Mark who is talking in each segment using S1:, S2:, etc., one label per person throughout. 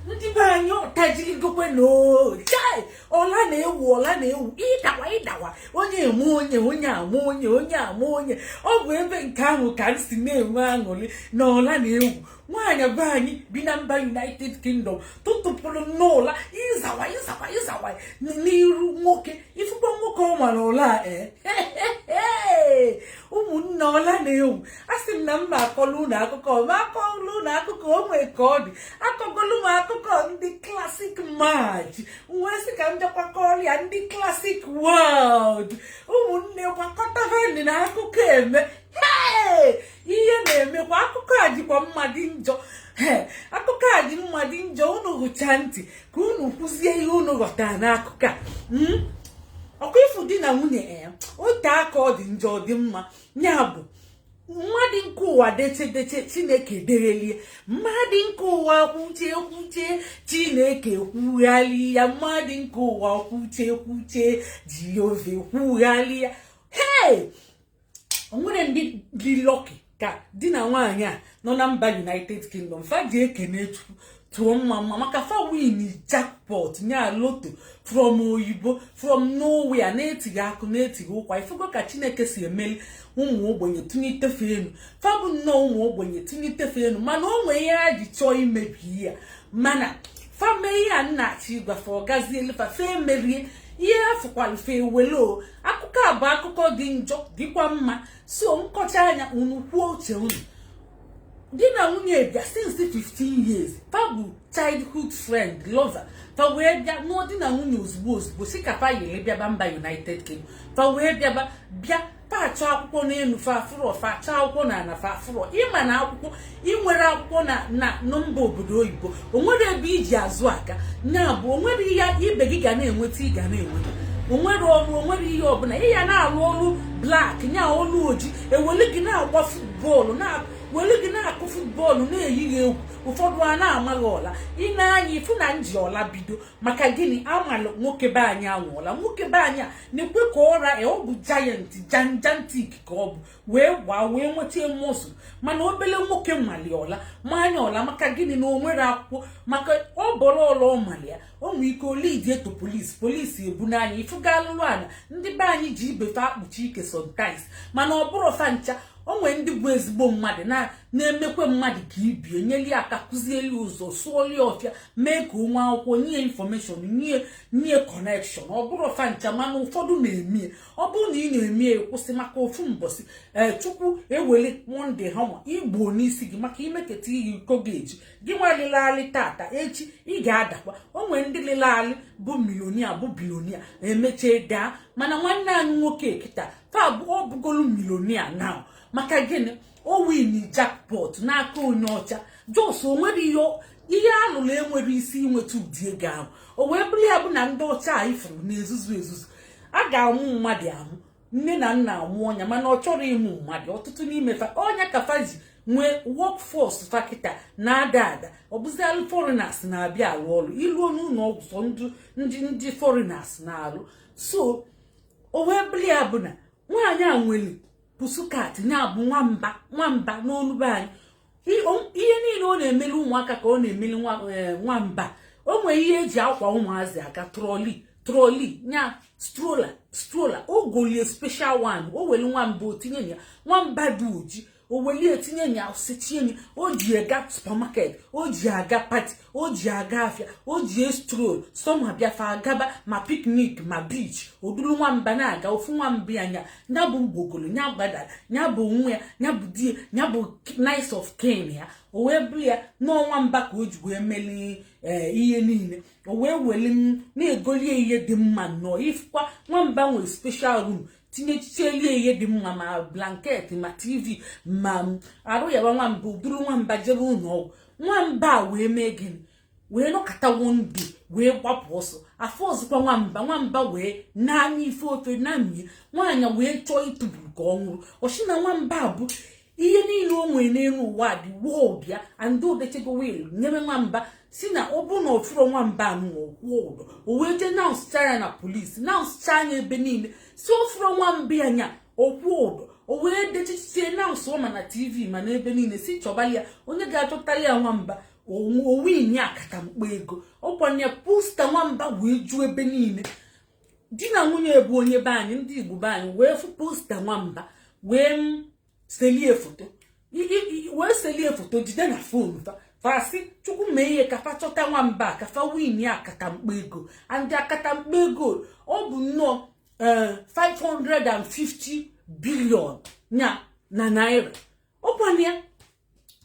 S1: ndị be anyị ọtajirigokwe nụ chai ụla na-ewu ụla na-ewu ịdawa ịdawa onye eme onye onye ama onye onye ama onye ọ bụ ebe nke ahụ ka m si na-enwe aṅụrị na ụla na-ewu nwaanyị be anyị bi na mba united kingdom tụtụpụrụ n'ụla ịzawa ịzawa ịzawa n'iru nwoke ị fụkwa nwoke ọ mara ụla a ee eh? ụmụnne ụla na-ewu a sị m na m na-akọlụ unu akụkọ m akọlụ unu akụkọ o nwee ka ọ dị akọgolu m akụkọ ndị classic maj wee sị ka m bịakwa kọọrọ ya ndị classic world ụmụnne gbakọtavanị na akụkọ eme ihe na-emekwa akụkọ a dịkwa mma dị njọ akụkọ a dị mma dị njọ unu gechaa ntị ka unu kwuzie ihe unu ghọtara n'akụkọ a hmm? ọkwa ị fụ di na nwunye a eh, o te aka ọ dị njọ ọ dị mma ya bụ mmadụ nke ụwa deche deche chineke degharịa mmadụ nke ụwa kwuche kwuche chineke kwugharịa mmadụ nke ụwa kwuche kwuche jehova kwugharịa hei o nwere ndị dị lucky ka di na nwaanyị a nọ na mba united kingdom fa ji ekene chukwu tụọ mma mma maka fa win jackpot nya lotto from oyibo from nowhere na-etighị akụ na-etighị ụkwa ị fụgo ka chineke si emeli ụmụ ogbenye tinye ite fe enu fa bụ nnọọ ụmụ ogbenye tinye ite fe enu mana o nwee ihe a ji chọọ imebi ya mana fa mee ihe a m na-achọ ịgwa fe ọ gazielụ fa fa emerie ihe afụ kwalụ fe wee luo akụkọ a bụ akụkọ dị njọ dịkwa mma so m kọchaa ya unu kwuo uche unu di na nwunye bịa since 15 years fa bụ childhood friend lover fa wee bịa nụọ di na nwunye ozugbo ozugbo sị ka fa yiri bịaba mba united kingdom fa wee bịaba bịa fa achọ akwụkwọ n'enu fa afụrọ fa achọ akwụkwọ na ana fa afụrọ ị ma na akwụkwọ i nwerọ akwụkwọ na na mba obodo oyibo o nwerọ ebe i ji azụ aga ya bụ o nwerọ ihe ibe gị ga na-enweta ị ga na-enweta o nwerọ ọrụ o nwerọ ihe ọbụla ị ya na-arụ ọrụ black nya ọrụ oji eweli gị na-agba futbọọlụ na were gị na-akụ futbọọlụ na-eyi gị egwu ụfọdụ a na-ama gị ụla n'anya ị fụ na m ji ụla bido maka gịnị amalụ nwoke be anyị anwa ụla nwoke be anyị a nekwe ka ọ ra ọ bụ giant gigantic ka ọ bụ wee gbaa wee nweta muscle mana obele nwoke mali ụla maa nya ụla maka gịnị na o nwerọ akwụkwọ maka ọ bọrọ ụla ọ mali ya o nwere ike o lead ye to police police ebunaa nya ị fụgo alụlụ ana ndị be anyị ji ibe fe akpuchi ike sometimes mana ọ bụrụ fa ncha o nwere ndị bụ ezigbo mmadụ na-emekwe mmadụ ka ibe ye nyeli aka kụzieli ụzọ sụọli ọfịa mee ka o nwee akwụkwọ nye information nye nye kọnekshọn ọ bụrọ fa ncha mana ụfọdụ na-emie ọ bụrụ na ị na-emie kwụsị maka ofu mbọsị ee eh, chukwu eweli mọnde hama gbuo n'isi gị maka imeketa ihe iko gị eji gị nwa lịlị alị tata echi ị ga-adakwa o nwere ndị lịlị alị bụ milionia bụ bilionia emechie daa mana nwanne anyị nwoke kịta taa ọ bụgolu milionia na maka gịnị o winị jackpot n'aka onye ọcha jọs o nwere ihe ihe a lụrụ enwere isi inweta ụdị ego ahụ o wee bụrụ ya bụ na ndị ọcha a ị fụrụ na-ezuzu ezuzu a ga-amụ mmadụ amụ nne na nna amụọ nya mana ọ chọrọ ịmụ mmadụ ọtụtụ n'ime fa ọ nya ka fa ji nwee wọkfọs fa kịta na-ada ada ọ bụzialụ fọrinas na-abịa arụ ọrụ i luo n'ụlọ ọgwụ sọ ndị ndị fọrinas na-alụ so o wee bụrụ ya bụ na nwaanyị a nwere pusukat nya bụ nwamba nwamba n'olu be anyị ihe niile ọ na-emeli ụmụaka ka ọ na-emeli eh, nwamba o nwere ihe e ji akwa ụmụazị aka trọli trọli nya strola strola o golie special one o weli nwamba o tinye na ya nwamba dị oji o welie tinye nya sechie nya o ji aga supamaket o ji aga pati o ji aga afịa o ji estrol sọma bịa fa agaba ma piknik ma biich o duru nwamba na-aga ofu nwamba ya nya nya bụ mgbogolo nya gbadara nya bụ nwa ya nya bụ di ya nya bụ next of kin ya o wee bụrụ ya na ọ nwamba ka o ji wee meli Eh, ihe niile o wee weli m na-egolie ihe dị mma nnọọ ị fụkwa nwamba nwere special room tinyechichelie ihe dị mma ma blanket ma tv ma arụ yawa nwamba buru nwamba jebe ụlọ ọgwụ nwamba a wee mee gịnị wee nọkata one day wee gbapụ ọsọ a fụrọzịkwa nwamba nwamba wee naanị ife ofe na mmiri nwaanyị wee chọọ ịtụburu ka ọ nwụrụ ọ sị na nwamba bụ ihe niile o nwere n'elu ụwa dị woo bịa and o dechego wil nyere nwamba sị na ọ bụrụ na ọ fụrọ nwamba anụnwa ọ kwụọ ụdọ o wee jee anaụnsụchaa ya na polisi anaụnsụchaa ya ebe niile sị ọ fụrọ nwamba ya nya akwụọ ụdọ o wee dechichie anaụnsụọ ma na tv ma na ebe niile sị chọbali ya onye ga-achọtali ya nwamba o winie akatamkpo ego ọ kwa ya posta nwamba wee ju ebe niile di na nwunye bụ onye be anyị ndị igbo be anyị wee fụ posta nwamba wee selie foto wee selie foto jide na fon fa fa sị chukwu mee ihe ka fa chọta nwamba ka fa win ya akatamkpo ego and akatamkpo ego ọ bụ nnọọ 550 eh, billion nya na naira ọkwana ya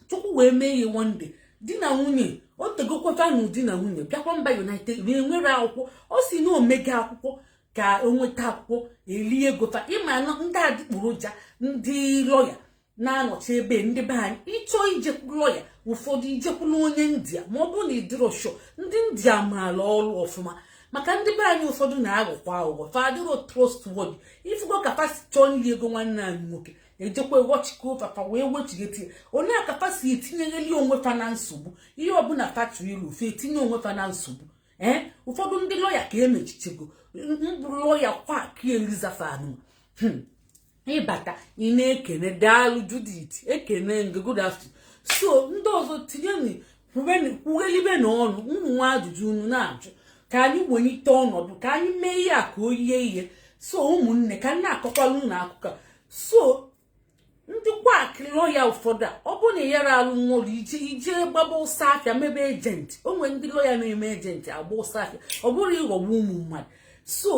S1: chukwu wee mee ihe one day di na nwunye o tegokwafa na di na nwunye bịakwa mba united wee nwere akwụkwọ ọ si na o mega akwụkwọ ka e nweta akwụkwọ elie ego fa ị ma na ndị adịgboroja ndị lọya na-anọchi ebe ndị be anyị ị chọọ ijekwu lọya ụfọdụ i jekwulu onye india ma ọ bụrụ na ị dịrọ sure ndị india maala ọrụ ọfụma maka ndị be anyị ụfọdụ na-aghọkwa aghụghọ fa adịrọ trustworthy ị fụgo ka fa si chọọ iri ego nwanne anyị nwoke ejekwa ewọchikọ ụfa fa wee wechigheti onye aka fa si etinyegheli onwe fa na nsogbu ihe ọbụla fa chụrụ ilu fa etinye onwe fa na nsogbu ee eh? ụfọdụ ndị lọya ka emechichago mbụ lọya quack elizafan hmm. ị bata ị na-ekene daalụ Judith ekene m gị good afternoon so ndị ọzọ tinye kwughelibe na ọnụ unu nwee ajụjụ unu na-ajụ ka anyị welite ọnọdụ ka anyị mee ihe a ka o yie ihe so ụmụnne ka m na-akọkwalụ unu akụkọ so ndị quack lọya ụfọdụ a ọ bụ na ị yara alụnwu ọlụ ije ije gbaba ọsọ afịa mebe agent o nwere ndị lọya na-eme agent agba ọsọ afịa ọ bụrụ ịghọgbu ụmụ mmadụ so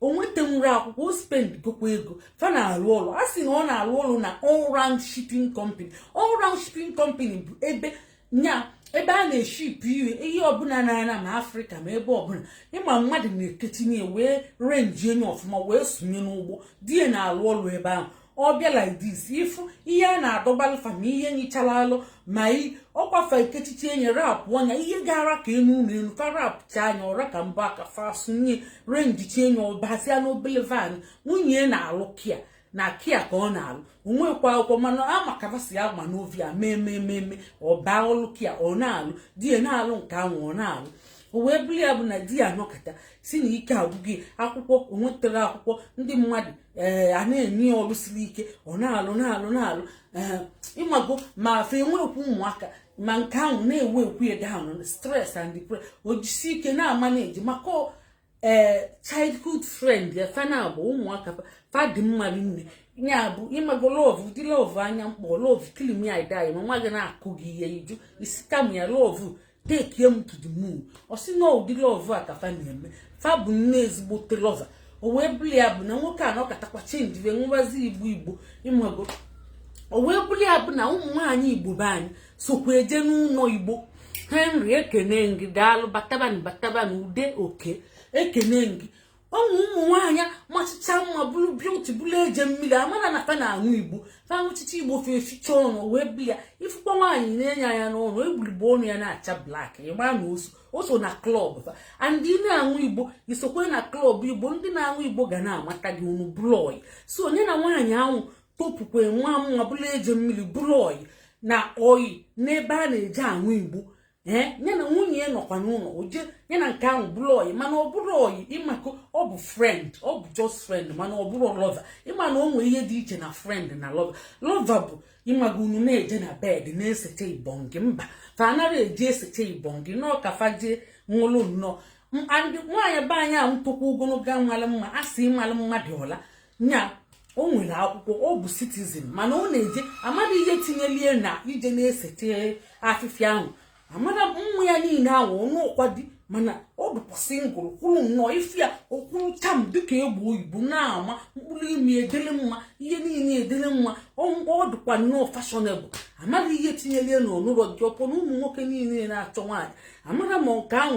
S1: o nwetanwurọ akwụkwọ o spendgokwa ego fa na-arụ ọrụ a sị na ọ na-arụ ọrụ na all round shipping company all round shipping company bụ ebe nya ebe a na-eship ihe ihe ọbụla na-ana ma afrịka ma ebe ọbụla ị ma mmadụ na-eketinye wee arrange enye ọfụma wee sunye n'ụgbọ di ya na-alụ ọlụ ebe ahụ ọ bịa like this ị fụ ihe a na-adọbalụ fa ma ihe nyịchara alọ ma ọ kwa fa ekechichi enye rapụ anya ihe gara ka enu ụlọ elu fa rapụcha anya ọ ra ka mbụ aka fa sunye renjichi enye ọ bazia n'obele van nwunye na-alụ care na care ka ọ na-alụ o nwekwa akwụkwọ mana a ma ka va si agba n'ọvịa mee mee mee mee ọ baa ọlụ care ọ na-alụ di ya na-alụ nke ahụ ọ na-alụ o wee bụrụ ya bụ na di ya nọkata si na ike agwụ ya akwụkwọ o nwetara akwụkwọ ndị mmadụ ee a na-enye ya ọrụ siri ike ọ na-alụ na-alụ na-alụ ee ịmago ma fa enwekwu ụmụaka ma nke ahụ na-eweighkwu ya down stress and depression o jisi ike na-amanage maka ee childhood friend ya fa na-abụ ụmụaka fa dị mma rinne ya bụ ịmago love ụdị love anya mkpọ love kill me i die ma nwa gị na-akụ gị ihe iju isi kam ya love take me to the moon ọ sị na ụdị love a ka fa na-eme fa bụ nne ezigbote lover o wee bụlụ ya bụ na nwoke a nọkatakwa change wee ṅụbazi igbo igbo ịmago o wee bụlụ ya bụ na ụmụ nwaanyị igbo be anyị sokwa eje n'ụlọ igbo henry ekene m gị daalụ batabanụ batabanụ ude oke ekene m gị ụmụ ụmụ nwaanyị machicha mma bụrụ beauty bụrụ eje mmiri amana na fa na-aṅụ igbo fa ṅụchicha igbo fa eficha ọnụ wee bili ya ị fụkwa nwaanyị nee nya anya n'ọnụ egburigbo ọnụ ya na-acha black ị ma na o so o so na club fa ndị na-aṅụ igbo i sokwe na club igbo ndị na-aṅụ igbo ga na-amata gị unu bụrụ ọyị so nya na nwaanyị ahụ topukwe maa mma bụrụ eje mmiri bụrụ ọyị na ọyị n'ebe a na-eje aṅụ igbo ee eh, ya na nwunye ya nọkwa n'ụlọ o je ya na nke ahụ bụrụ ọyị mana ọ bụrụ ọyị ị mago ọ bụ friend ọ bụ just friend mana ọ bụrụ lover ị ma na o nwere ihe dị iche na friend na lover lover bụ ị mago unu na-eje na bed na-esecha ibongi mba fa anara eje esecha ibongi nọọ ka fa jee ṅụrụ nnọọ nwaanyị be anyị ahụ tokwa ogologo malụ mma a sị ị malụ mma dụ ọla nya o nwere akwụkwọ ọ bụ citizen mana ọ na-eje amara ihe tinyelie na ije na-esecha afịfịa ahụ amara mmụ ya niile ahụ ọ nụọkwa di mana ọ dụkwa single kwụrụ nnọọ ị fụ ya ọ kwụrụ cham dịka egbe oyibo na-ama mkpụrụ imi edele mma ihe niile edele mma ọ dụkwa nnọọ fashionable amara ihe tinyelie na ọ nụrọ di upon na ụmụ nwoke niile na-achọ nwaanyị amara ma nke ahụ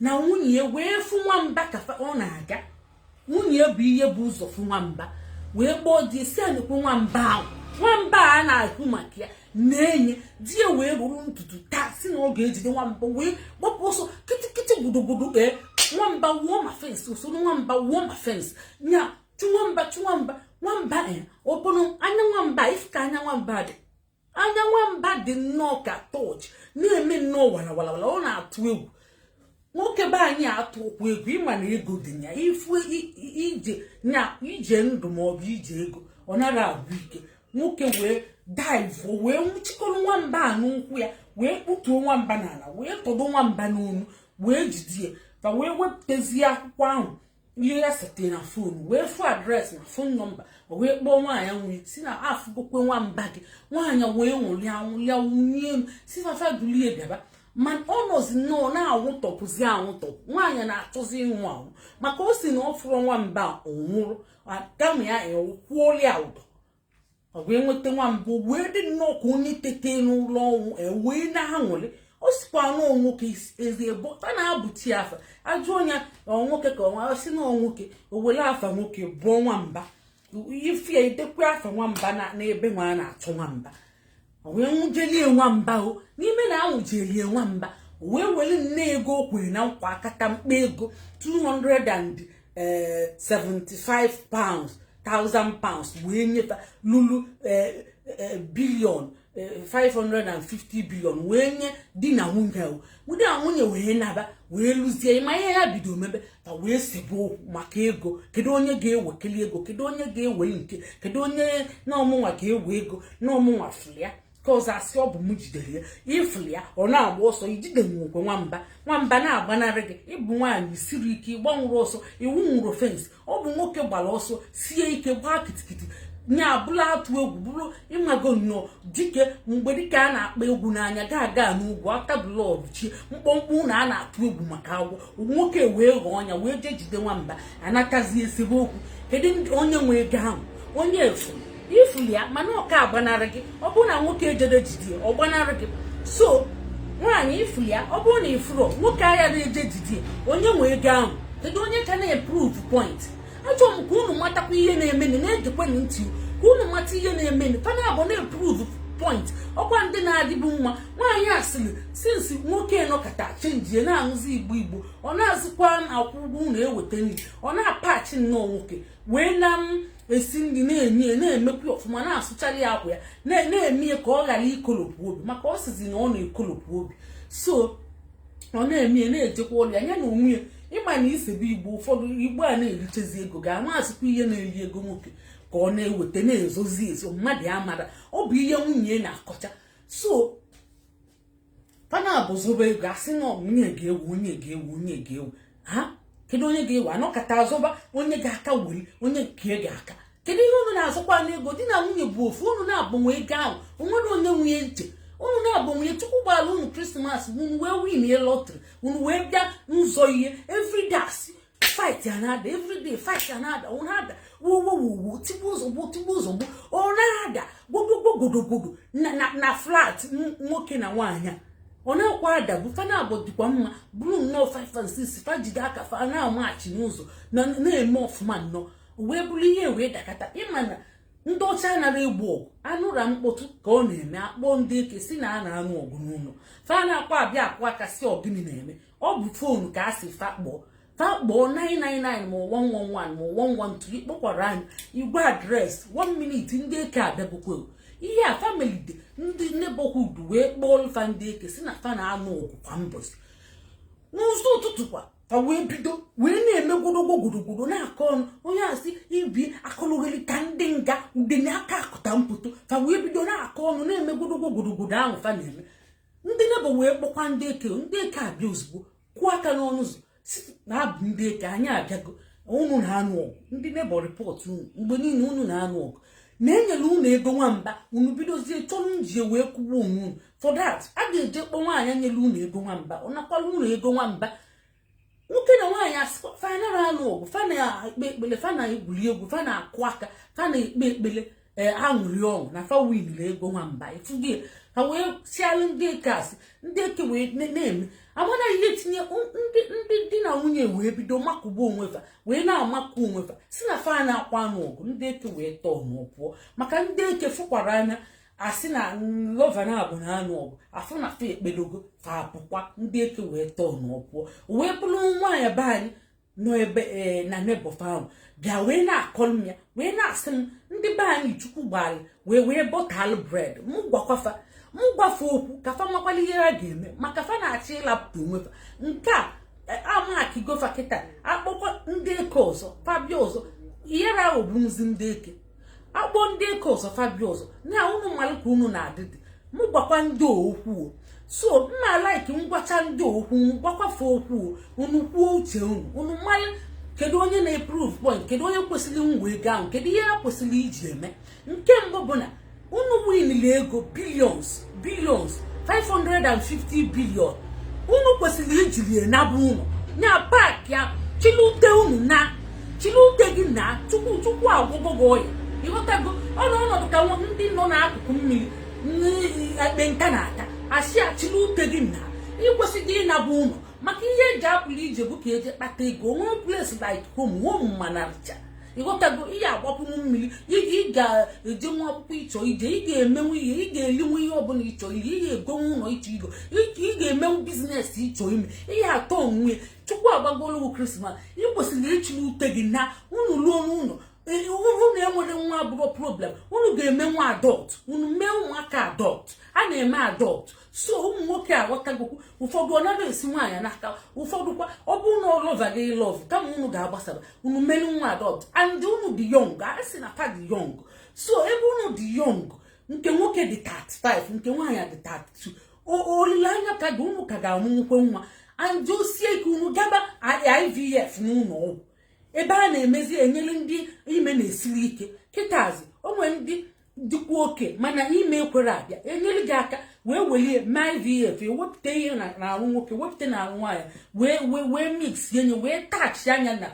S1: na nwunye wee fụ nwamba ka ọ na-aga nwunye bụ ihe bu ụzọ fụ nwamba wee kpọọ di sị nekwa nwamba ahụ nwamba a na-ekwu maka ya na-enye di ya wee rụrụ ntutu taa sị na ọ ga-ejide nwamba wee gbapụ ọsọ kịtịkịtị gbudugburu ee eh, nwamba wụọ ma fence o soro nwamba wụọ ma fence nya chụ nwamba chụ nwamba nwamba ya eh, ọ bụrụ anya nwamba ị fụ ka anya nwamba dị anya nwamba dị nnọọ ka torch na-eme nnọọ walawalawala ọ na-atụ egwu nwoke be anyị atụọkwa egwu ị ma na ego dị ya ifu ije na ije ndụ ma ọ bụ ije ego ọ nara agwụ ike nwoke wee dive wee nwụchikọrọ nwamba a n'ụkwụ ya wee kputuo nwamba n'ala wee tọdo nwamba n'onu wee jide ya fa wee wepụtazie akwụkwọ ahụ ihe ya setere na phone wee fụ address na phone number o wee kpọọ nwaanyị wee sị na afụgokwa nwamba gị nwaanyị wee ṅụrịa ṅụrịa wulie elu sị fa fa dulie bịaba ma ọ nọzi nnọọ na-anwụtọpụzi anwụtọpụ nwaanyị na-achọzi ịnwụ anwụ maka ọ sị na ọ fụrọ nwamba ọ nwụrụ kama ya kwụọrịa ụdọ o wee nweta nwamba wee dị nnọọ ka onye tete n'ụla ọnwụ e wee na-aṅụrị ọ sịkwa na nwoke ezi ebo a na-abụchi afa a jụọ nya nwoke ka ọnwa sị na nwoke o were afa nwoke bụọ nwamba ị fụ ya i dekwe afa nwamba n'ebe nwa a na-achọ nwamba wee nwụjelie nwamba o n'ime na anwụjelie nwamba wee were nne ego o kwere na nkwa akata mkpa ego 275 eh, pounds 1000 pounds wee nye fa lulu eh, eh, billion 550 billion wee nye di na nwunye ọ di na nwunye wee naba wee lụzie ịma ihe ha bido mebe ka wee sebe okwu maka ego kedu onye ga-ewekeli ego kedu onye ga-ewe nke kedu onye na ọ mụnwa ga-ewe ego na ọ mụnwa fụlị ya nke ọzọ asị ọ bụ m jidere ya ị fụlị ya ọ na-agba ọsọ ijide nwokwe nwamba nwamba na-agbanarị gị ị bụ nwaanyị i siri ike ị gbanwụrụ ọsọ ị wụnwụrụ fensị ọ bụ nwoke gbara ọsọ sie ike gbaa kitikiti nya abụla atụ egwu bụrụ ị mago nnọọ dike mgbedike a na-akpa egwu n'anya gaga n'ogwu aka blọd chi mkpọmkpọ ụlọ a na-atụ egwu maka agwọ nwoke wee ghọọ ọnya wee jee jide nwamba anatazie esebe okwu kedu onye nwe ego ahụ onye efu ị fụlị ya mana ọ ka agbanarị gị ọ bụrụ na nwoke ejero jide ya ọ gbanarị gị so nwaanyị ị fụlị ya ọ bụrụ na ị fụrọ nwoke agara eje jide ya onye nwe ego ahụ kedu onye ka na-eprove point achọ m ka unu matakwa ihe na-emenụ na-egekwenụ ntị ka unu mata ihe na-emenụ fa naabọ na-eprove point ọ kwa ndị na-adịbu mma nwaanyị a sịrị sinsi nwoke nọkata chenjie na-aṅụzi igbo igbo ọ na-azụkwa akwụkwọ unu eweta nri ọ na-apachi nnọọ nwoke wee na esi nri na-enye ya na-emekwa ọfụma na-asụchara ya akwa ya na-eme ya ka ọ ghara ikolopụ obi maka ọ sizi na ọ na-ekolopụ obi so ọ na-eme ya na-ejekwa ọrụ ya nya na onwe ya ịma na i sebe igbo ụfọdụ igbo a na-erichezi ego ga-ama asịkwa ihe na-eri ego nwoke ka ọ na-eweta na-ezozi ezo mmadụ amara ọ bụ ihe nwunye na-akọcha so fa naabọ zọba ego asị na onye ga-ewe onye ga-ewe onye ga-ewe ha kedu onye ga-ewe anọkata azọba onye ga-aka weli onye nke ga-aka kedu ihe unu na-azọkwa n'ego di na nwunye bụ ofu unu naabọ nwe ego ahụ o nwerọ onye nwe nya iche unu naabọ nwe nya chukwu gbara unu krismas unu wee win lọtrị unu wee bịa nzọ ihe everyday fight a na-ada everyday fight a na-ada ọ na-ada wuwuwuwu tigbu ozugbo tigbu ozugbo ọ na-ada gbogbogbogodogodo na flat nwoke na nwaanyị a ọ na-akwa ada bụ fa naabọ dịkwa mma bụrụ nnọọ five and six fa jide aka fa na-amachi n'ụzọ na-eme ọfụma nnọọ wee bụrụ ihe wee dakata ịma na ndị ọcha anaghị egbu ọgụ anụra mkpọtụ ka ọ na-eme akpọọ ndị eke sị na a na-anụ ọgụ n'ụlọ fa na-akwa abịa akụ aka sị ọ gịnị na-eme ọ bụ fonu ka a si fa kpọọ fa kpọọ 999 ma 111 ma 112 ị kpọkwara anyị ị gwa adreesị 1 minute ndị eke abịagokwa ihe a fa melite ndị neighborhood wee kpọọ fa ndị eke sị na fa na-anụ ọgụ kwa mbọchị n'ụzọ ụtụtụ kwa fa wee bido wee na-eme gwodogwo gwodogwodo na-akọ ọnụ onye asị ibi akọlụgheri ka ndị nga udene aka akụta mkpọtụ fa wee bido na-akọ ọnụ na-eme gwodogwo gwodogwodo ahụ fa na-eme ndị neighbour wee kpọkwa ndị eke ndị eke abịa ozugbo kụọ aka n'ọnụ ụzọ sị na ọ bụ ndị eke anyị abịago unu na-anụ ọgụ ndị neighbour report unu mgbe niile unu na-anụ ọgụ na e nyere unu ego nwamba unu bidozie chọ iji ya wee kụgbuo onwe unu for that a ga-eje kpọ nwaanyị nyere unu ego nwamba ọ nakwara unu ego nwamba nwoke na nwaanyị asịkwa fa anara anụ ọgụ fa na-ekpe ekpele fa na-egwuri egwu fa na-akụ aka fa na-ekpe ekpele ee aṅụrị ọṅụ na fa winiri ego nwa mba ị fụgo ya wee sialụ ndị eke asị ndị eke wee na-eme amana ihe tinye ndị di na nwunye wee bido makụba onwe fa wee na-amakụ onwe fa sị na fa anakwa anụ ọgụ ndị eke wee turnụọ pụọ maka ndị eke fụkwara anya asị na lover na abụ na anụ ọgụ afụ na fa ekpedogo fa apụkwa ndị eke wee turnụọ pụọ wee bụrụ nwaanyị be anyị nọ ebe e, na neighbour fa ahụ bịa wee na-akọrọ m ya wee na-asị m ndị be anyị chukwu gbara wee wee butterlụ bread m gwakwa fa m gwa fa okwu ka fa makwalụ ihe ha ga-eme maka fa na-achọ ịlapụta onwe fa nke a e, a markigo fa kịta a kpọkwa ndị eke ọzọ fa bịa ọzọ ihere ahụ bụzi ndị eke a kpọ ndị eke ọzọ fa bịa ọzọ na unu malụ ka unu na-adịdị m gwakwa ndị okwu so m na-alike m gwacha ndị okwu gwakwa fa okwu unu kwuo uche unu unu malụ kedu onye na-eprove point kedu onye kwesịrị inwe ego ahụ kedu ihe ha kwesịrị iji eme nke mbụ bụ na unu winili ego billions billions 550 billion unu kwesịrị ijiri ya naba ụnọ na packi ya chịlụ ute unu naa chịlụ ute gị naa chukwu agwọgo gị ọya ị ghọtago ọnụ ọnọdụ ka ndị nọ n'akụkụ mmiri ekpenta na-ata a sị chịlụ ute gị naa ị kwesịrị ịnaba ụnọ maka ihe e ji apụrụ ije bụ ka e je kpata ego o nwe place like home home mana ị ghọtago ị ya-agbapụnwu mmiri ị ga-ejenwu akwụkwọ ị chọ ije ị ga-emenwu ihe ị ga-elinwu ihe ọbụla ị chọ iri ị ga-egonwu ụlọ ị chọ igo ị ga-emenwu business ị chọ ime ihe atọ onwe chukwu agbagolowu krismas ị kwesịrị ịchịrị ute gị naa unu ruo n'ụlọ unu enwere nwa abụrọ problem unu ga-emenwu adopt unu mee ụmụaka adopt a na-eme adopt so ụmụ nwoke aghọtagokwu ụfọdụ ọ nara esi nwaanyị n'aka ụfọdụ kwa ọ bụrụ na ọ love gị love kama unu ga-agbasara unu melu nwa adopt and unu dị young a sị na fa dị young so ebe unu dị young nke nwoke dị 35 nke nwaanyị dị 32 olileanya ka dị unu ka ga-amụnwukwa nwa and o sie ike unu gaba IVF n'ụlọ ọgwụ ebe a na-emezi enyere ndị ime na-esiri ike kịtazi o nwe ndị dịkwa okay mana ime ekwere abịa enyere gị aka wee welie mee ivf wepụta ihe n'arụ nwoke wepụta n'arụ nwaanyị wee wee wee mix enye wee tachi anya na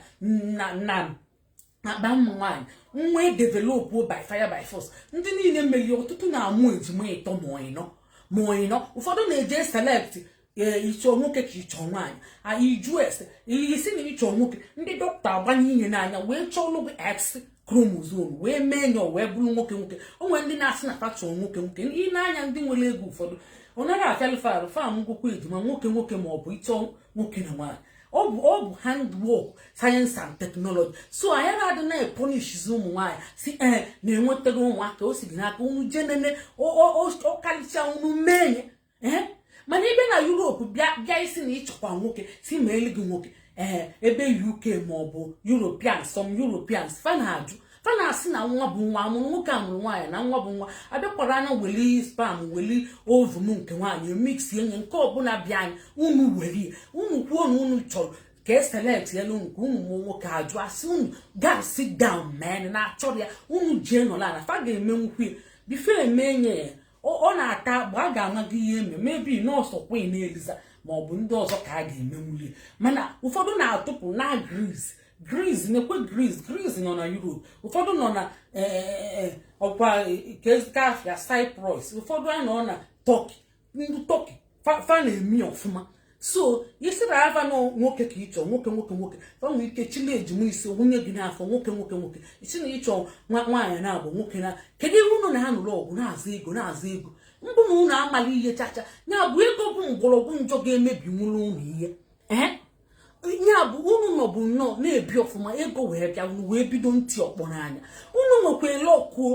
S1: na na akpa ụmụ nwaanyị nwa edevelopụ by fire by force ndị niile mere ọtụtụ na-amụ ejima ịtọ ma ịnọ ma ịnọ ụfọdụ na-eje select ee ị chọ nwoke ka ị chọ nwaanyị iju ese ị sị na ị chọ nwoke ndị dọkịta agbanye ihe n'anya wee chọọlụ gị x chromosome wee meenye ọ wee bụrụ nwoke nwoke o nwere ndị na-asị na fa chọọ nwoke nwoke ị na-anya ndị nwere ego ụfọdụ ọ naghị afịalụ fa arụ fa mụnwukwa ejima nwoke nwoke ma ọ bụ ị chọ nwoke na nwaanyị ọ bụ ọ bụ handwork science and technology so anyị adịna epunishizi ụmụ nwaanyị sị ee na enwetaghị ụmụaka o si gị n'aka unu jee nene ọkarịcha unu meenye ee mana ebe na Europe bịa bịa ị sị na ị chọkwa nwoke sị meelu gị nwoke ee ebe uk ma ọ bụ europeans some europeans fa na-ajụ fa na-asị na nwa bụ nwa amụrụ nwoke amụrụ nwaanyị na nwa bụ nwa abịakwara anya weli sperm weli ovum nke nwaanyị mix enye nke ọbụla bịa anyị unu weli unu kwuo na unu chọrọ ka eselectelu nke unu mụ nwoke a jụ a sị unu gaa sit down men na achọrọ ya unu jee nọla na fa ga-emekwu ya bụ ife emeenye ya ọ na-ata agba a ga-ama gị ihe eme maybe nọọsụ Queen Eliza ma ọ bụ ndị ọzọ ka a ga-emenwuli mana ụfọdụ na-atụpụ na Greece Greece na-ekwe Greece Greece nọ na Europe ụfọdụ nọ na e, e, e, ọkwa keezikwa afa ya Cyprus ụfọdụ anọ na Turkey ndị Turkey fa na-eme ọfụma so ị sịrị fa na nwoke ka ị chọ nwoke nwoke nwoke fa nwere ike chili ejima isii wụnye gị n'afọ nwoke nwoke nwoke ị sị na ị chọ nwaanyị naabọ nwoke na kedu ihe unu na-anụrụ ọgụ na-azọ ego na-azọ ego mbụ na unu amali ihe chacha ya bụ ego bụ mgbọrọgwụ njọ ga-emebinwuru unu ihe ee ya bụ unu nọbu nnọọ na-ebi ọfụma ego wee bịa unu wee bido iti ọkpọ n'anya unu nwekwa ele ọkụo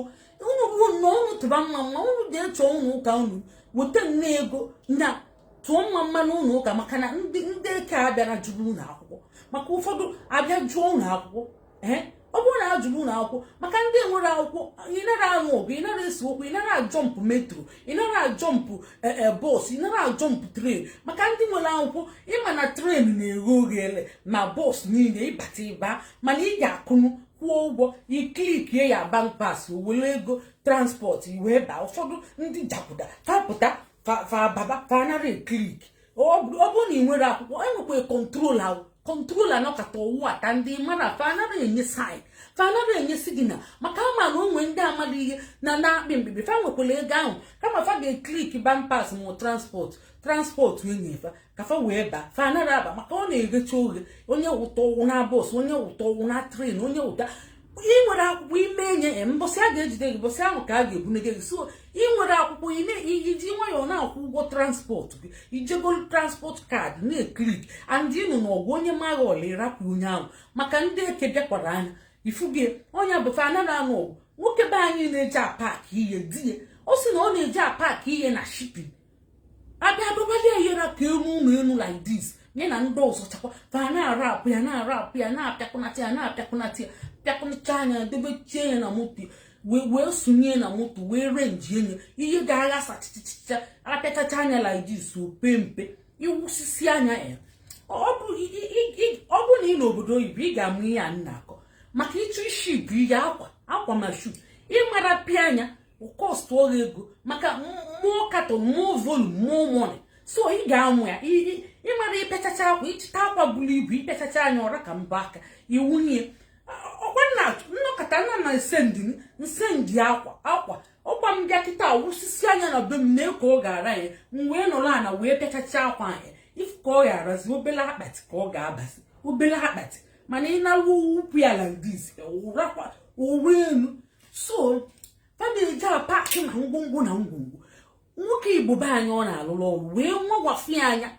S1: unu bụ nnọọ unu tụba mmamma unu dị echọ ụnọ ụka unu weta nne ego na tụọ mmamma n'ụlọ ụka maka na ndị eke abịara jụọ unu akwụkwọ maka ụfọdụ abịa jụọ unu akwụkwọ ee ọ bụrụ na a jụrụ unu akwụkwọ maka ndị enwerọ akwụkwọ ị nara anụ ọgụ ị nara ese okwu ị nara ajọmpụ metro ị nara ajọmpụ e, e, bọs ị nara ajọmpụ train maka ndị nwere akwụkwọ ị ma na train na-eghe oghere ma bọs niile ị bata ị baa mana ị ga-akụnụ kwụọ ụgwọ ị klikie ya bank pass ọ were ego transport ị wee baa ụfọdụ ndị jaguda fa pụta fa baba fa anara eklik ọ bụrụ na ị nwere akwụkwọ enwekwa control ahụ control anọkata ọ wụbata ndị mara fa anara enye sign fa anara enye signal maka a ma na o nwe ndị amara ihe na na-akpị mkpịkpị fa nwekwara ego ahụ kama fa ga-eklik bank pass ma transport transport enye fa ka fa wee ba fa anara aba maka ọ na-eghecha oghe onye wụta ọ wụọ na bọs onye wụta ọ wụọ na train onye wụta ị nwere akwụkwọ ime enye ya mbọsị a ga-ejide gị mbọsị ahụ ka a ga-ebunege gị so ị nwere akwụkwọ iji nwayọọ na-akwụ ụgwọ transport gị ijegolu transport card na-eklik and ịnụ na ọgụ onye maa gị ọla ịrapụ onye ahụ maka ndị eke bịakwara anya ifuge onye bụfe anara anụ ọgụ nwoke be anyị na-eji apak ihe di ya ọ sị na ọ na-eji apak ihe na shipping a bịa dobeli ya ihe ra ka elu ụlọ elu like this nye na ndị ọzọ chakwa fa na-arapụ ya na-arapụ ya na-apịakọnata ya na-apịakọnata ya pịakọnata nya debechie ya na moto wee sonye na moto wee renji enye ihe ga-aghasa chichichicha apịachacha nya like this ọ pe mpe iwusisi anya ya ọ bụ na ị nọ obodo oyibo ị ga-amụ ihe a na-akọ maka ịchọ iship ihe akwa akwa ma shu ịmara pịa nya kọstụọ gị ego maka more carton more volume more money so ị ga-amụ ya ịmara ịpịachacha akwa ịchịta akwa buru ibu ịpịachacha nya ọ ra ka mbọ aka ị wụnye ọkwa nna nnọkọta nna na nsendi nsendi akwa akwa ọkwa m bịa kịta wụsisi anya na be m na eko ọ ga-ara ya m wee nọrọ ana wee pịachacha akwa anyị ifu ka ọ ga-arazi obele akpati ka ọ ga-abazi obele akpati mana ị na-awụ ukwu ala like this ọ ra elu so fa na-eji apakị na ngwongwo na ngwongwo nwoke igbo be anyị ọ na-alụrụ ọrụ wee mụwafi anya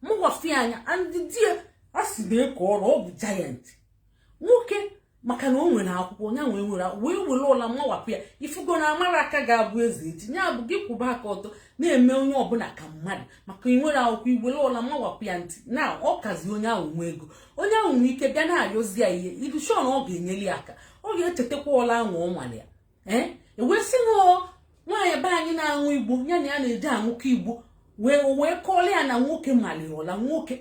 S1: mụwafi anya and di ya a si na eke ọrụ ọ bụ giant nwoke maka na o nwere akwụkwọ ya nwee nwere wee were ụla mawapụ ya ifugo na amara aka ga-abụ eze echi ya bụ gị kwụba aka ọtọ na-eme onye ọbụla ka mmadụ maka inwere akwụkwọ iwere ụla mawapụ ya ntị na ọ kazi onye ahụ nwe ego onye ahụ nwee ike bịa na-ayọzi ya ihe ị dị sure na ọ ga-enyeli ya aka ọ ga-echetakwa ụla ahụ ọ mara ya ee e wee sị na nwaanyị be anyị na-aṅụ igbo ya na ya na-eji aṅụkọ igbo wee wee kọọli ya na nwoke mali ya ọla nwoke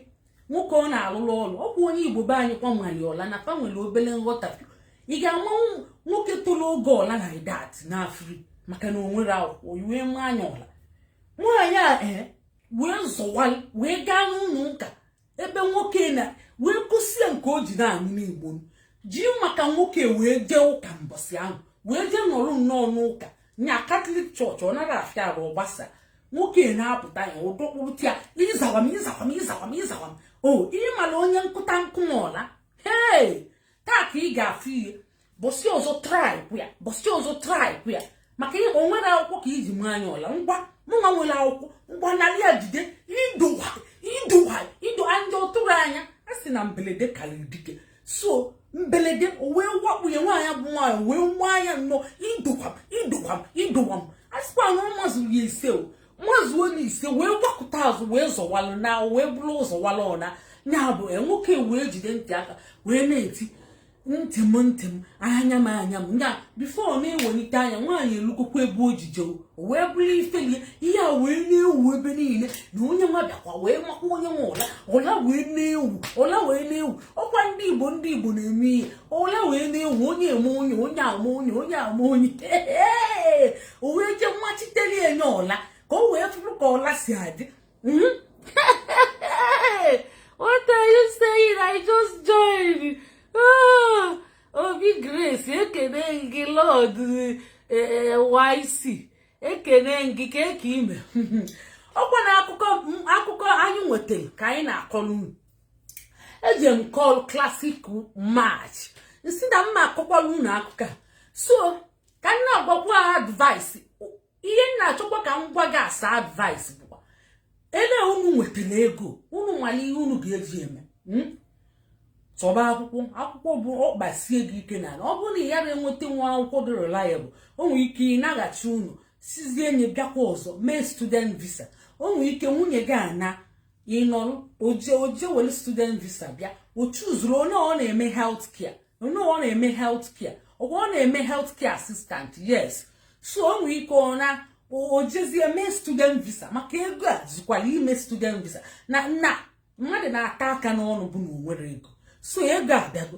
S1: nwoke ọ na-alụrụ ọrụ ọ bụ onye igbo be anyị kwa mali ya ọla na fa nwere obere nghọtafie ị ga-ama nwoke toro ogo ọla like that na free maka na o nwere akwụkwọ ị wee maa nya ọla nwaanyị a ee eh, wee zọwalị wee gaa n'ụlọ ụka ebe nwoke na wee gosi ya nke o ji na-aṅụ igbo ji maka nwoke wee jee ụka mbọsị ahụ wee jee nọrọ nnọọ n'ụka nya Catholic church ọ nara afịa arụ ọ gbasaa nwoke na-apụta ya ọ dọkpụrụta ya ịzawa m ịzawa m ịzawa m ịzawa m ọ gị mara onye nkụta nkụ m ọla hee taa ka ị ga-afụ ihe mbọsị ọzọ try kwa ya mbọsị ọzọ try kwa ya maka ihe o nwere akwụkwọ ka i ji maa nya ọla ngwa mụnwa nwere akwụkwọ ngwa narị ya jide idowa idowa ido anya ọtụrụ anya a sị na mberede karịrị dike so mbelede o wee wakpu ya nwaanyị bụ nwaanyị wee maa ya nnọọ idokwam idokwam idowam a sịkwa na ọ mazuru ya ise o mazuo ya ise wee gbakụta azụ wee zọwalụ na wee bụrụ ụzọ wala ọna ya bụ e, nwoke wee jide ntị aka wee na-eti ntị m ntị m anya m anya m ya before ọ na-ewelite anya nwaanyị elugokwa ebe o o wee bụrụ ifele ihe a wee na-ewu ebe niile na onye nwa bịakwa wee makwa onye nwa ụla ụla wee na-ewu ụla wee na-ewu ọkwa ndị igbo ndị igbo na-eme ihe ụla wee na-ewu onye eme onye onye ama onye onye ama onye o wee jee machitere enye ụla ka o wee fụrụ ka ụla si adị hmm? obi grace ekene m gị lord yc ekene m gị kee ka i me ọkwa na akụkọ anyị nwetara ka anyị na-akọrọ unu eji m call classic match m sị na m ma akọkwara unu akụkọ so ka m na-agwakwa advice ihe m na-achọkwa ka m gwa gị as an advice bụkwa ele unu nwetara ego unu malụ ihe unu ga-eji eme hmm? chọba akwụkwọ akwụkwọ bụ ọkpasie gị ike na ọ bụrụ na ị yara enweta nwa akwụkwọ dị reliable o nwere ike ị naghachi unu sizie nye bịakwa ọzọ mee student visa o nwere ike nwunye gị ana ị nọrọ o je were student visa bịa o chuzuru onye ọ na-eme health care onye ọ na-eme health care ọgwa ọ na-eme health care assistant yes so o nwere ike ọ naa o jezie mee student visa maka ego a zukwara ime student visa na na mmadụ na-ata aka n'ọnụ bụ na o nwerọ ego so ego abịago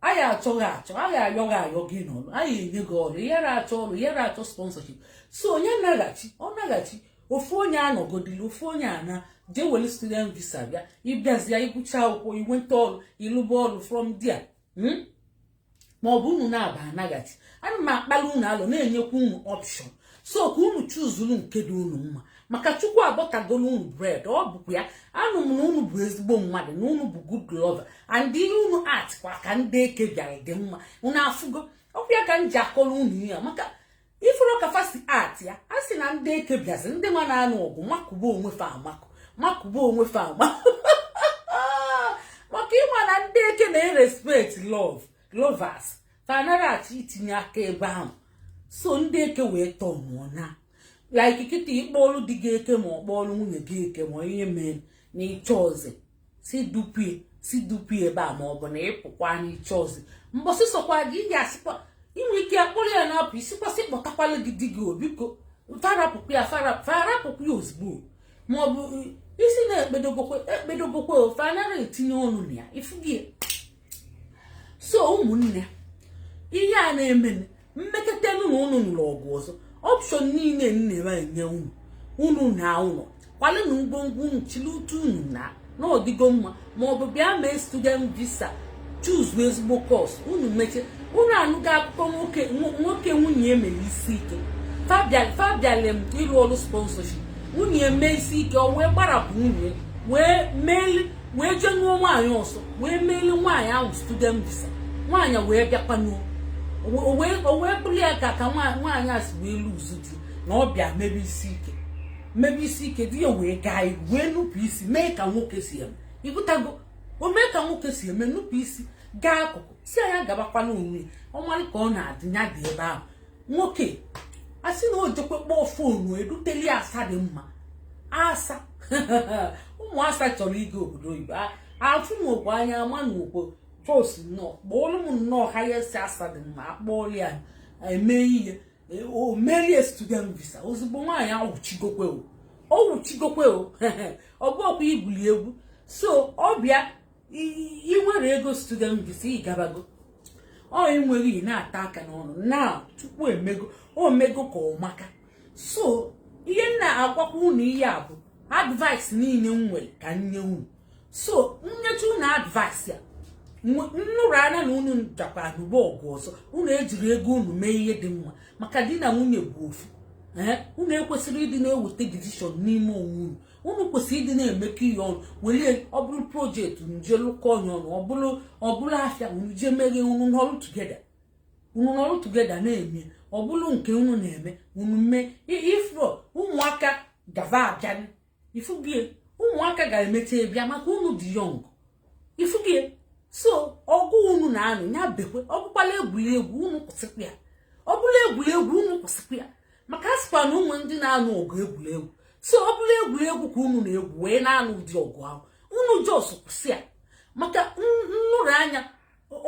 S1: a ya-achọ gị achọ a ya-ayọ gị ayọ gị nọrọ a ya-enye gị ọrụ ị yara achọ ọrụ ị yara achọ sponsorship so onye naghachi ọ naghachi ofu onye anọgodili ofu onye ana jee were student visa bịa ị bịazịa ị gụcha akwụkwọ i nweta ọrụ ị lụba ọrụ from there hmm? ma ọ bụ unu naabọ anaghachi ana m akpali unu alo na-enyekwa unu option so ka unu chuzuru nke dị unu mma maka chukwu abọtagolu unu bread ọ bụkwa ya anụ m na unu bụ ezigbo mmadụ na unu bụ good lover and ihe unu act kwa ka ndị eke bịara dị mma unu afụgo ọkwa ya ka m ji akọrọ unu ya maka ị fụrụ ka fa si act ya a sị na ndị eke bịazi ndị nwa na-anụ ọgụ makụba onwe fa amakụ makụba onwe fa amakụ maka ị ma na ndị eke na-erespect love lovers fa anaghị achọ itinye aka ebe ahụ so ndị eke wee tọọ mụọ na like kịta ị kpọọlụ di gị eke ma ọ kpọọlụ nwunye gị eke ma ihe mee na ị chọ ụzọ si dupụ ya si dupụ ya ebe a ma ọ bụ na ị pụkwa n'ịchọ ọzọ mbọsị sokwa gị ị ga-asịkwa ndị eke akpụrụ ya na-apụ ị sịkwa sị kpọtakwara gị di gị o biko fa rapụkwa ya fa rapụkwa ya ozugbo ma ọ bụ isi na-ekpedobokwe ekpedobokwe ofe anaghị etinye ọnụ na ya ifu gị so ụmụnne ihe a na-eme m mekata nụ na unu nụrụ ọgụ ọzọ option niile m na-enye unu unu na ụlọ kwalenụ ngwongwo unu chili utu unu na n'ọdịgo mma ma ọ bụ bịa mee student visa choose ezigbo course unu meche unu anụgo akụkọ nwoke nwoke nwunye ya mere isi ike fa bịalụ ịrụ ọrụ sponsorship nwunye mee isi ike o wee gbarapụ nwunye wee jee nụọ nwaanyị ọzọ wee meeli nwaanyị ahụ student visa nwaanyị wee bịakwanụ o o wee bụrụ ya ka ka nwaanyị a si wee lose di na ọ bịa mebe isi ike mebe isi ike di ya wee gaa ihu wee nupụ isi mee ka nwoke si eme ị ghọtago o mee ka nwoke si eme nupụ isi gaa akụkụ si anya gabakwanụ onwe ọmarị ka ọ na-adị ya dị ebe ahụ nwoke a sị na o jekwe kpọọ phone eduteli asa dị mma asa ụmụ asa chọrọ ịga obodo oyibo afụ m okwu anya ama na okwu just nnọọ kpọọlụ m nnọọ highest asa dị mma akpọọlụ ya eme ihe e, o meeli ya student visa ozugbo nwaanyị awụchigokwe o ọ wụchigokwe o ọ bụ ọkwa igwuli egwu so ọ bịa ị nwere ego student visa ị gabago o nweghị ị na-ata aka n'ọnụ na chukwu emego o mego ka ọ maka so ihe m na-agwakwa unu ihe a bụ advice niile m nwere ka m nye unu so m nyecha unu advice a m nụrụ anya na unu jakwa anụba ọgụ ọzọ unu ejiri ego unu mee ihe dị mma maka di na nwunye bụ ofu unu ekwesịrị ịdị na-eweta decision n'ime onwe unu unu kwesịrị ịdị na-emekọ ihe ọnụ were ọ bụrụ project unu jee lụkọ ya ọnụ ọ bụrụ ọ bụrụ afịa unu jee meghe unu nọrụ together unu nọrụ together na-eme ọ bụrụ nke unu na-eme unu mee before ụmụaka gava abịa ị fụgo ya ụmụaka ga-emecha bịa maka unu dị young ị fụgo ya so ọgụ unu na-anụ ya bekwe ọ bụkwala egwuregwu unu kwụsịkwa ya ọ bụrụ egwuregwu unu kwụsịkwa ya maka a sịkwa na o nwe ndị na-anụ ọgụ egwuregwu so ọ bụrụ egwuregwu ka unu na-egwu wee na-anụ ụdị ọgụ ahụ unu just kwụsị ya maka m nụrụ anya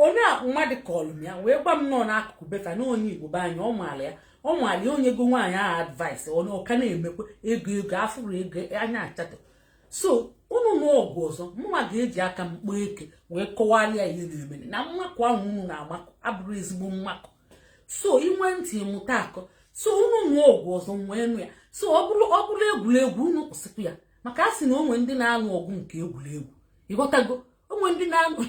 S1: onye mmadụ kọlụ m ya wee gwa m nọọ n'akụkụ be fa na onye igbo be anyị ọ maara ya ọ maara ya o nyego nwaanyị ahụ advice onye ọka na-emekwa ego ego afụrụ ego anya achatọ so unu nụọ ọgụ ọzọ mụnwa ga-eji aka m kpọọ eke wee kọwalị ya ihe na-emere na mmakụ ahụ unu na-amakụ abụrọ ezigbo mmakụ so i nwee ntị mụta akọ so unu nụọ ọgụ ọzọ m wee nụ ya so ọ bụrụ ọ bụrụ egwuregwu unu kwụsịkwa ya maka a sị na o nwe ndị na-anụ ọgụ nke egwuregwu ị ghọtago o nwe ndị na-anụ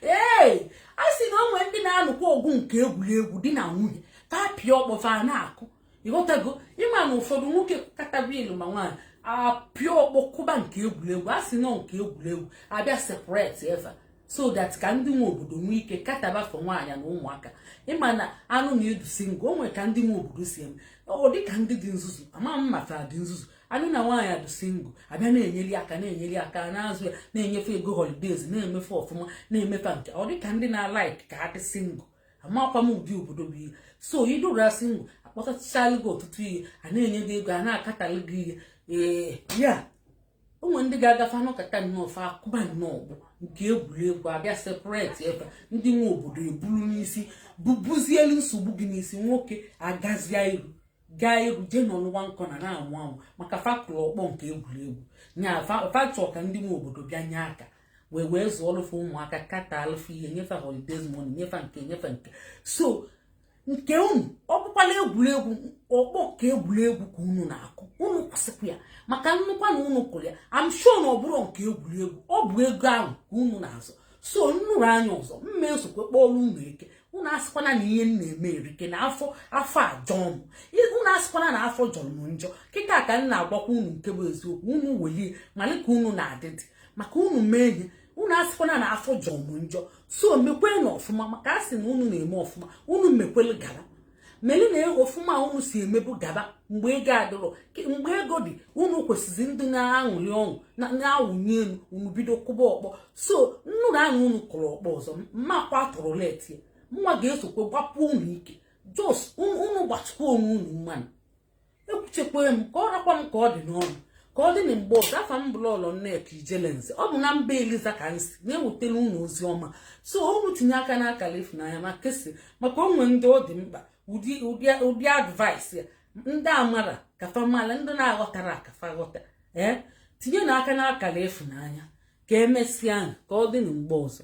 S1: ee a sị na o nwe ndị na-anụkwa ọgụ nke egwuregwu di na nwunye ka apịa ọkpọ fa na-akụ ịghọtago ịma na ụfọdụ nwoke kataba ilu ma nwaanyị apịa ọkpọ kụba nke egwuregwu a sị na ọ nke egwuregwu abịa separate fa so that ka ndị nwe obodo nwee ike kataba for nwaanyị na ụmụaka ịma na a nụ na ị dị single o nwere ka ndị nwe obodo si eme ọ dị ka ndị dị nzuzu ama m ma fa dị nzuzu a nụ na nwaanyị dị single abịa na-enyeli aka na-enyeli aka na-azụ ya na-enye fa ego holidays na-eme fa ọfụma na-eme fa nke ọ dị ka ndị na-alike ka ha dị single amakwa m ụdị obodo bụ ihe so ị dụrụ single akpọtachaala gị ọtụtụ ihe a na-enye gị ego a na-akatalụ gị ihe ee ya o nwe ndị ga-aga fa anọkata nnọọ fa akụba nnọọ ọ bụ nke egwuregwu abịa separate ebe ndị nwe obodo eburu n'isi bubuzielu nsogbu gị n'isi nwoke agazia iru gaa egwu jee nọlụwa nkọ na na-amụ amụ maka fa kụlụ ọkpọ nke egwuregwu nya fa chọ ka ndị nwe obodo bịa nye aka wee wee zụọlụ fa ụmụaka kataalụ fa ihe nye fa holidays money nye fa nke nye fa nke so nke unu ọ bụkwala egwuregwu ọkpọ nke egwuregwu ka unu na-akụ unu kwụsịkwa ya maka m nụkwa na unu kụrụ ya am sure na ọ bụrọ nke egwuregwu ọ bụ ego ahụ ka unu na-azọ so m nụrụ nya ọzọ m ma esokwe kpọrọ unu eke unu asịkwana na ihe m na-eme erike na afọ afọ ajọ m unu asịkwana na afọ jọrọ m njọ kịta ka m na-agwakwa unu nke bụ eziokwu unu welie mali ka unu na-adịdị maka unu mee ihe unu asịkwana na afọ jọ mụ njọ so mekwerenụ ọfụma maka a sị na unu na-eme ọfụma unu mekwere gara meli na ọfụma unu si emebu gaba mgbe ego adịrọ mgbe ego dị unu kwesịrị ịdị na-aṅụli ọṅụ na-awụnye elu unu bido kụba ọkpọ so m nụrụ na unu kụrụ ọkpọ ọzọ m makwa tụrụ leti mụwa ga-esokwe gbapụ unu ike just unu gbachikwa onwe unu mmanụ ekwuchekwa m ka ọ rakwa m ka ọ dị n'ọnụ ka ọ dị na mgbe ọzọ afa m bụ lọlọ nneka ijelenze ọ bụ na mba eliza ka m si na-ewetara unu ozi ọma so unu tinye aka n'akara ịfụnanya ma kesịa maka o nwe ndị ọ dị mkpa ụdị advice a ndị amara ka fa mala ndị na-aghọtara ka fa ghọta ee tinyenụ aka n'akara ịfụnanya ka emesịa ka ọ dị na mgbe ọzọ